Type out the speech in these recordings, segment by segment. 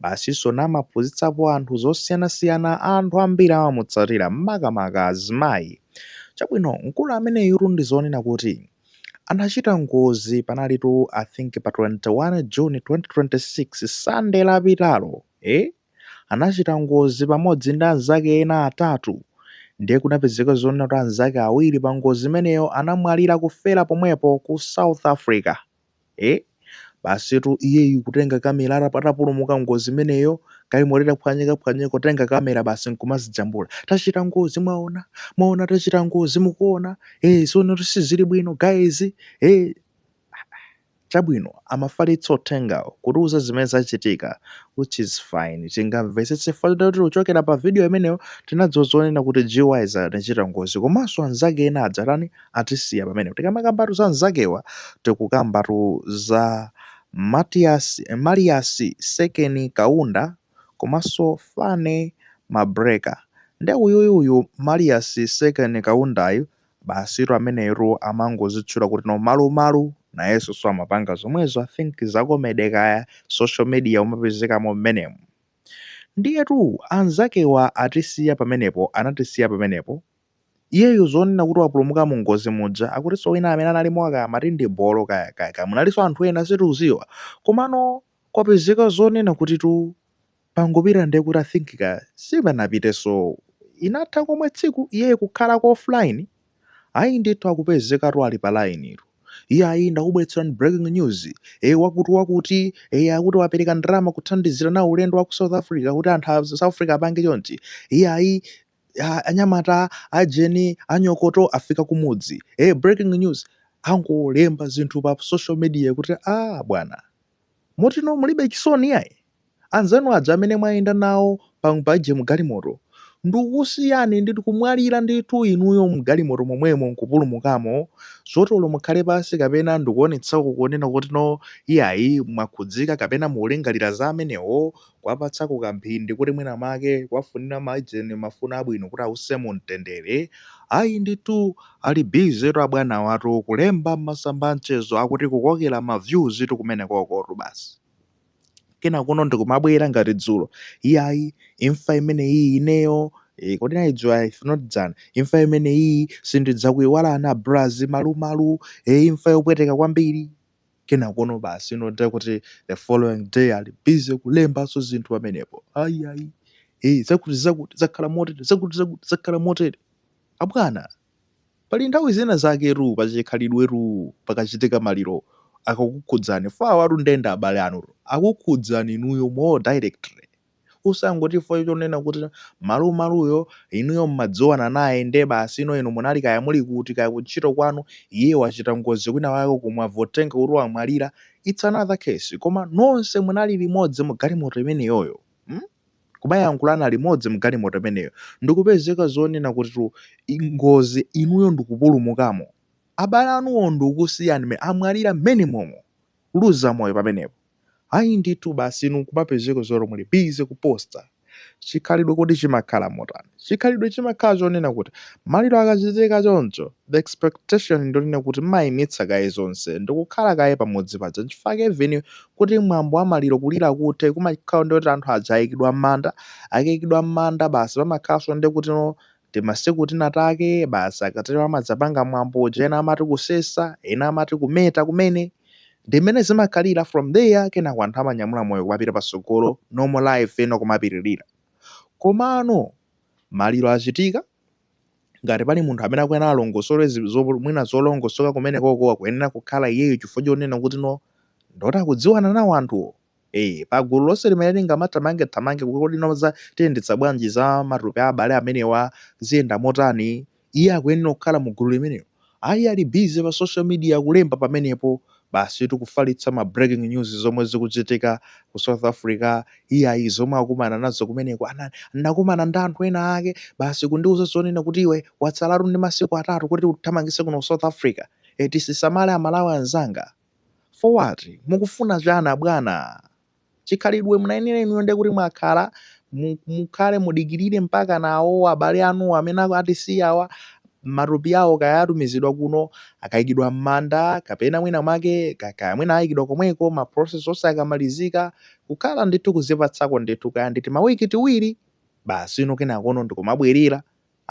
Basiso namaphunzitsapo anthu zosiyanasiyana anthu ambiri amamutsatira makamaka azimayi. Chabwino mkulu ameneyutu ndi zoona kuti anachita ngozi panalitu I think pa 21 June 2026 Sunday lapitalo eh anachita ngozi pamodzi ndi anzake ena atatu ndiye kunapezeka zonena kuti anzake awiri pa ngozi imeneyo anamwalira kufera pomwepo ku South Africa. ee basitu iyeyu kutenga kamera atapulumuka ngozi imeneyo galimoto itaphwanyikaphwanyika kutenga kamera basi nkumazijambula tachita ngozi mwaona mwaona tachita ngozi mukuona ee sono sizili bwino guys ee chabwino amafalitsa uthengawo kutiuza zimene zachitika which is fine tingamvetsetse kuti kuchokera pa video imeneyo tinadziwa zonena kuti guys anachita ngozi komanso anzake ena adzatani atisiya pamenepo. Tikamakambatu za anzakewa, tikukambatu za Malias Sekeni Kaunda komanso Fane Mabreka. Nde uyuyu uyu Malias Sekeni Kaundayu basitu ameneyotu amangozitchula kuti no Malumalu, nayenso so amapanga zomwezo. I think za comedy kaya, social media amapezekamo mmenemu. Ndiyetu anzakewa atisiya pamenepo, anatisiya pamenepo. Iyeyo zonena kuti wapulumuka mu ngozi muja akutinso wina amene analimo aka amati ndi bolo kaya kaya kaya munalinso anthu ena sitikudziwa komano kwapezeka zonena kuti tu pangopita ndiye kuti I think ka sipanapitenso ngakhale tsiku iyeyo kukhalako offline ayi ndithu akupezekatu ali pa online tu iyayi ndakubweretserani breaking news e wakuti wakuti e akuti wapereka ndalama kuthandizira nawo ulendo wa ku South Africa kuti anthu a South Africa apange chonchi iyayi anyamata aujeni anyokoto afika kumudzi ee breaking news angolemba zinthu pa social media kuti a bwana motino mulibe chisoni yayi anzanu aja amene mumayenda nawo paje mgalimoto akusiyani ndi kumwalira ndithu inuyo mgalimoto momwemo nkupulumukamo zoti olo mukhale pansi kapena ndikuonetsako kunena kuti no iyayi mwakhudzika kapena mukulingalira za amenewo kuwapatsako kamphindi kuti mwina mwake kuwafunira ma ujeni mafuno abwino kuti awuse mu mtendere, ayi ndithu ali busy tu abwanawatu kulemba mmasamba a mchezo akuti kukokera ma views tu kumenekokotu basi. Kenakono ndikumabwera ngati dzulo, iyayi imfa imeneyiyi ineyo ee kodi inali dzulo ayi if not dzana, imfa imeneyiyi sindidzakuiwala a Braz, Malumalu ee imfa yopweteka kwambiri. kenakono basi ino ndiye kuti the following day ali busy kulembanso zinthu pamenepo ayi ayi eh zakuti zakuti zakhala motere zakuti zakuti zakhala motere abwana pali nthawi zina zaketu pachikhalidwetu pakachitika maliro akakukhudzani chifukwa awatu nde ndi abale anutu akukhudzani inuyo more directly Usangoti chifukwa chonena kuti malumaluyo inuyo mmadziwana naye nde basi ino inu munali kaya muli kuti kaya kuntchito kwanu iye wachita ngozi kwina kwake uko mwamva uthenga kuti wamwalira its another case koma nonse munali limodzi mugalimoto imeneyoyo mm kumayankhulana limodzi mgalimoto imeneyo ndikupezeka zonena kuti ngozi inuyo ndikupulumukamo abale anuwo ndikusiyani me amwalira mmenemomo kuluza moyo pamenepo ayi ndithu basi inu nkumapezeka zoti muli busy kuposta chikhalidwe kodi chimakhala motani chikhalidwe chimakhala chonena kuti maliro akachitika choncho the expectation ndiyonena kuti mmayimitsa kaye zonse ndikukhala kaye pamudzi paja nchifukwa chake even kuti mwambo wa maliro kulira kuthe kumakhala ndiye kuti anthu aja ayikidwa mmanda akayikidwa mmanda basi pamakhalanso ndiye kuti no timasiku tina take basi akatero amadzapanga mwambo uja ena amati kusesa ena amati kumeta kumene ndi mmene zimakhalira from there kenako anthu amanyamula moyo kumapita patsogolo normal life ena kumapitirira komano maliro achitika ngati pali munthu amene akuyenera alongosole zi- zo- mwina zolongosoka kumenekoko akuyenera kukhala iyeyo chifukwa chonena kuti no ndoti akudziwana nawo anthuwo Eee pagulu lonse limene lingamathamange thamange kuti kodi no za tiyendetsa bwanji za matupi a abale amenewa ziyenda motani iye akuyenera kukhala mu gulu limenelo ayi ali busy pa social media kulemba pamenepo basitu kufalitsa ma breaking news zomwe zikuchitika ku South Africa iyayi zomwe akumana nazo kumeneko ana ndinakumana ndi anthu ena ake basi kundiuza zonena kuti iwe watsalatu ndi masiku atatu kuti uthamangitse kuno ku South Africa tizisamale amalawi anzanga for what? mukufuna chani abwana? chikhalidwe munayenera inuyo ndiye kuti mwakhala mukhale mudikirire mpaka nawo abale anuwo amene atisiyawa matupi awo kaya atumizidwa kuno akayikidwa m'manda kapena mwina mwake kaya mwina ayikidwa komweko ma process onse akamalizika kukhala ndithu kuzipatsako ndithu kaya ndi timawiki tiwiri basi ino kenakono ndikumabwerera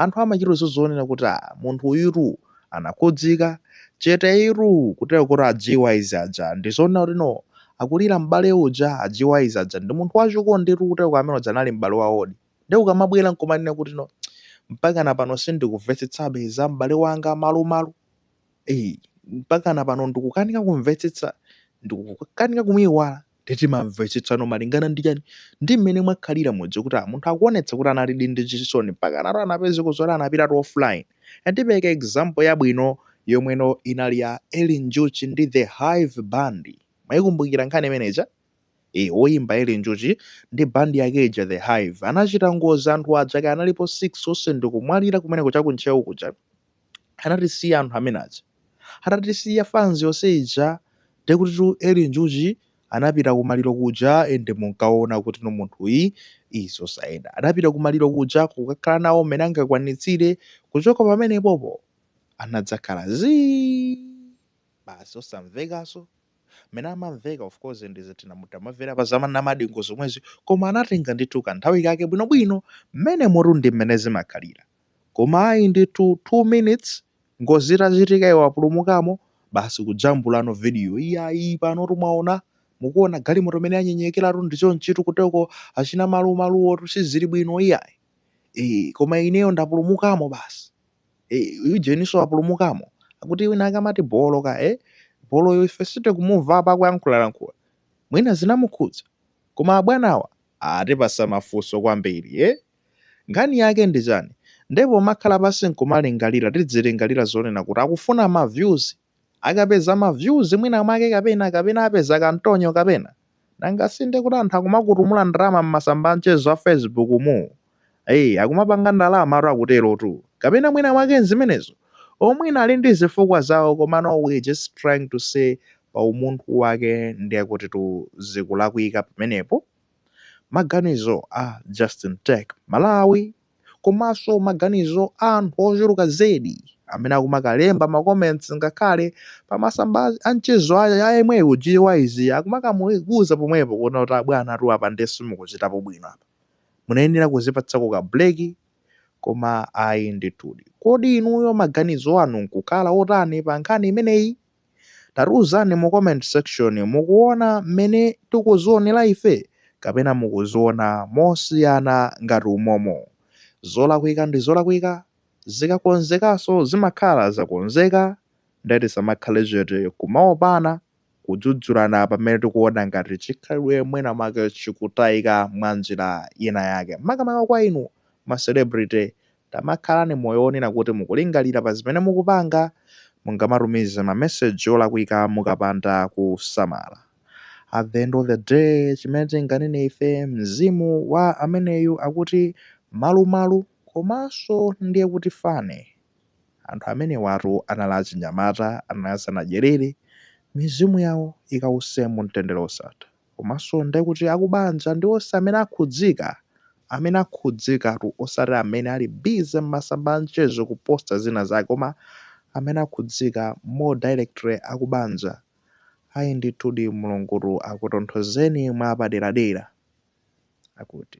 Anthu amachita zozionera kuti ah munthu uyutu anakhudzika, cheteyitu kutero kuti a Gyz aja ndizoona kuti no akulira m'bale uja a Gyz aja ndi munthu wa chikonditu kutero kuti amene uja anali m'bale wawodi nde ukamabwera nkumanena kuti no mpakana pano sindikuvetsetsabe za m'bale wanga malumalu ei mpakana pano ndikukanika kumvetsetsa ndikukanika kumuiwala Nde timamvetsetsano malingana ndi chani? Ndi mmene mwakhalira mudzi kuti a munthu akuonetsa kuti analidi ndi chisoni mpakanatu anapezeko zoti anapitatu offline. Ndipeleka example yabwino yomweno inali ya Eli Njuchi ndi The Hive Band. Mwaikumbukira nkhani imene ija? Eeh, oyimba Eli Njuchi ndi band yake ija The Hive anachita ngozi anthu aja kaya analipo 6 onse ndikumwalira kumeneko cha ku Ntcheu kuja. anatisiya anthu amene aja. Atatisiya fans yonse ija ndiye kutitu Eli Njuchi anapita kumaliro kuja and munkaona kutino munthuyi ii zosayenda. Anapita kumaliro kuja kukakhala nawo mmene angakwanitsire kuchoka pamenepopo anadzakhala zii basi osamvekanso mmene amamveka of course ndi zitina mutamamvera pa za namadingo zomwezi koma anatenga ndithu kanthawi kake bwinobwino mmenemotu ndi mmene zimakhalira. Koma ayi ndithu 2 minutes ngozi itachitika iwo apulumukamo basi kujambulano video iyayi panotu mwaona mukuona galimoto mmene yanyenyekeratu ndi chonchitu kuteko achina Malumaluwotu sizili bwino iyayi ee koma ineyo ndapulumukamo basi ee uyu Jeninso wapulumukamo akuti wina akamati bolo ka e boloyo ife sitikumumva apa akuyankhulalankhula mwina zinamukhudza koma abwanawa atipasa mafunso kwambiri eh Nkhani yake ndi chani? Nde pomakhala pansi nkumalingalira tidzilingalira zonena kuti akufuna ma views? Akapeza ma views mwina mwake kapena kapena apeza kantonyo kapena? Nanga si nde kuti anthu akumakutumula ndalama mmasamba a mchezo a facebook mu? Eee akumapanga ndalamatu akuterotu. Kapena mwina mwake nzimenezo? Or mwina ali ndi zifukwa zawo komano we just trying to say pa umunthu wake nde kutitu zikulakwika pamenepo? Maganizo a Justin Tech Malawi komaso maganizo a anthu ochuluka zedi amene akumakalemba ma comments ngakhale pa masamba a mchezo a yemweyu GYZ akumakamuuza pomwepo kunena kuti abwana tu apa nde simukuchitapo bwino apa munayenera kuzipatsako ka break koma ayi ndithudi. Kodi inuyo maganizo anu nkukhala otani pa nkhani imeneyi? Tatiuzani mu comment section mukuona mmene tikuzionera ife kapena mukuziona mosiyana ngati umomo. Zolakwika ndi zolakwika, zikakonzekaso zimakhala zakonzeka nde tisamakhale chete kumaopana kudzudzulana pamene tikuona ngati chikhalidwe mwina mwake chikutaika mwanjira ina yake makamaka kwa inu ma celebrity Tamakhalani moyo wonena kuti mukulingalira pa zimene mukupanga. Mungamatumize mameseji olakwika mukapanda kusamala. At the end of the day, chimene tinganene ife, mzimu wa ameneyu akuti Malumalu. Komanso ndiye kuti Fane. Anthu amenewatu anali achinyamata, anali asanadyerere. Mizimu yawo ikause mumtendere wosatha. komanso ndiye kuti akubanja ndi onse amene akhudzika, amene akhudzikatu osati amene ali busy m'masamba a mchezo kuposta zina zake koma amene akhudzika more directly akubanja. Ayi ndithudi Mulungutu akutonthozeni mwapaderadera. Akuti.